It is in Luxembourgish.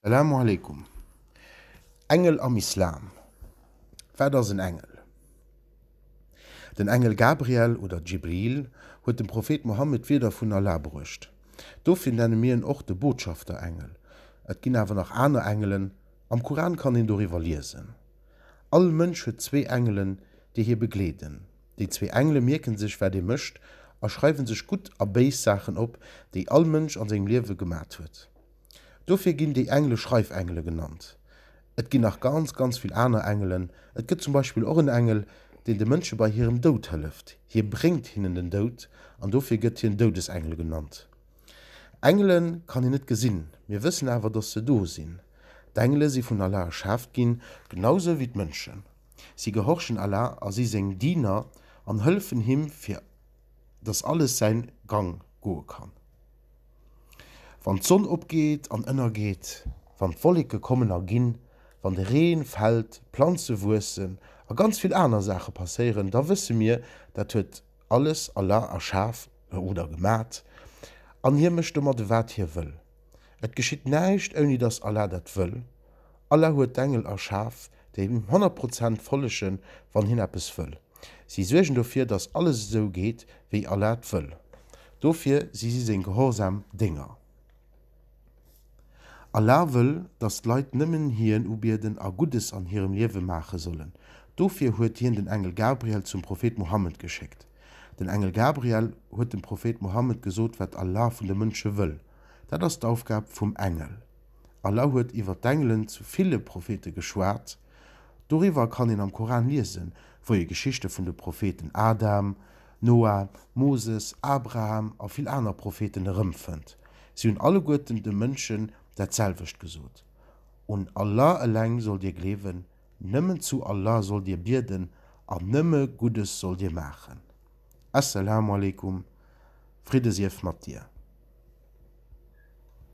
Salamu aleykum. Engel am Islam, Wat ass en Engel? Den Engel Gabriel oder Djibril huet dem Prophet Mohammed d'Wierder vun Allah bruecht. Dofir nenne mir en och de Botschafterengel. Et ginn awer nach aner Engelen, am Kuran kann een doriwwer liesen. All Mënsch huet zwee Engelen, déi hie begleeden. Déi zwee Engele mierken sech wat ee mécht a schreiwe sech gutt a béis Saachen op, déi all Mënsch an sengem Liewe gemat huet. Dofir ginn déi Engele Schreifengele genannt. Et ginn nach ganz, ganz vill aner Engelen. Et gëtt zum Beispill och en Engel, deen de Mënsche bei hirem Doud hëlleft. Hie bréngt hinnen den Doud an dofir gëtt hien Doudesengel genannt. Engele kann een net gesinn, mir wëssen awer, datt se do sinn. D'Engele si vun Allah erschaaft ginn, genau sou wéi d'Mënschen. Si gehorchen Allah a si seng Diener an hëllefen him, fir datt alles säin Gang goe kann. Wann d'Sonn opgeet an ënnergeet, wann d'Wolleke kommen a ginn, wann de Reen fällt, d'Planze wuessen a ganz vill aner Saache passéieren, da wësse mir, dat huet alles Allah erschaf oder gemat an Hie mécht domadde wat Hie wëll. Et geschitt näischt ouni dass Allah dat wëll. Allah huet d'Engel erschaf, déi Him honnert Prozent follegen, wann Hien eppes wëll. Si suergen dofir, datt alles esou geet, wéi Allah et wëll. Dofir si si seng gehorsam Dénger. Allah wëll, datt d'Leit nëmmen Hien ubieden a Guddes an hirem Liewe maache sollen. Dofir huet Hien den Engel Gabriel zum Prophet Muhammed geschéckt. Den Engel Gabriel huet dem Prophet Muhammed gesot, wat Allah vun de Mënsche wëll. Dat ass d'Aufgab vum Engel. Allah huet iwwer d'Engelen zu ville Prophete geschwat. Doriwwer kann een am Koran liesen, wou ee Geschichte vun de Propheten Adam, Noa, Moses, Abraham a vill aner Propheten erëmfënnt. Si hunn alleguerten de Mënschen dat selwecht gesot, Un Allah eleng sollt dir gleewen, nëmmen zu Allah sollt dir bieden an nëmme Guddes sollt dir maachen. As-salamu alaikum, Fridde sief mat dir.